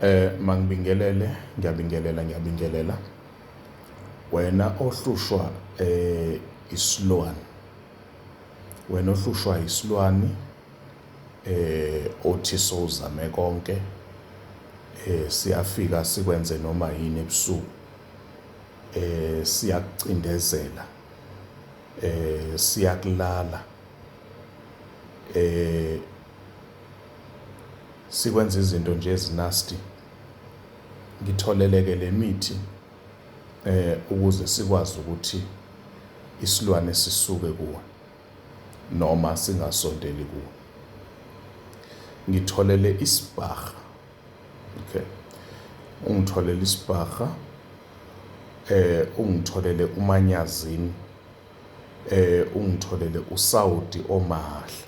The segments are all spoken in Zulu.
Eh mangibingelele ngiyabingelela ngiyabingelela wena ohlushwa eh isilwane wena ohlushwa isilwane eh othi sowuzame konke eh siyafika sikwenze noma yini ebusuku eh siyakucindezela eh siyakulala eh sikwenza izinto nje ezinasty ngitholeleke le mithi eh ukuze sikwazi ukuthi isilwane sisuke kuwe noma singasondeli kuwe ngitholele isibhaha okay ungitholele isibhaha eh ungitholele umanyazini eh ungitholele uSaudi omahla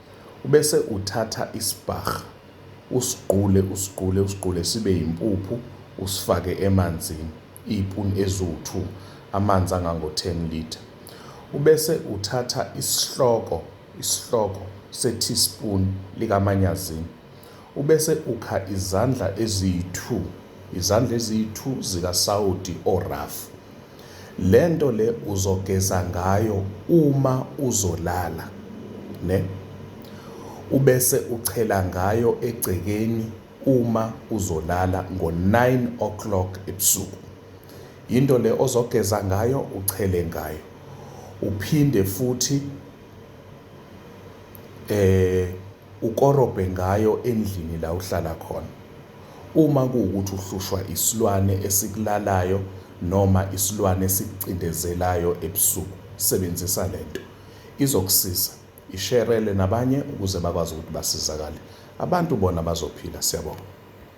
Ubese uthatha isibharha usigqule usigqule usigqule sibe yimpuphu usifake emanzini iy'puni eziwu-two amanzi angango-ten litre. Ubese uthatha isihloko isihloko se-teaspoon likamanyazini. Ubese ukha izandla eziyi-two, izandla eziyi-two zikasawoti orafu. Le nto le uzogeza ngayo uma uzolala, ne? Ubese uchela ngayo egcekeni uma uzolala ngo-nine o'clock ebusuku. Yinto le ozogeza ngayo, uchele ngayo. Uphinde futhi eh ukorobhe ngayo endlini la uhlala khona. Uma kuwukuthi uhlushwa isilwane esikulalayo noma isilwane esikucindezelayo ebusuku, sebenzisa le nto. Izokusiza. Isherele nabanye ukuze bakwazi ukuthi basizakale. Abantu bona bazophila. Siyabonga.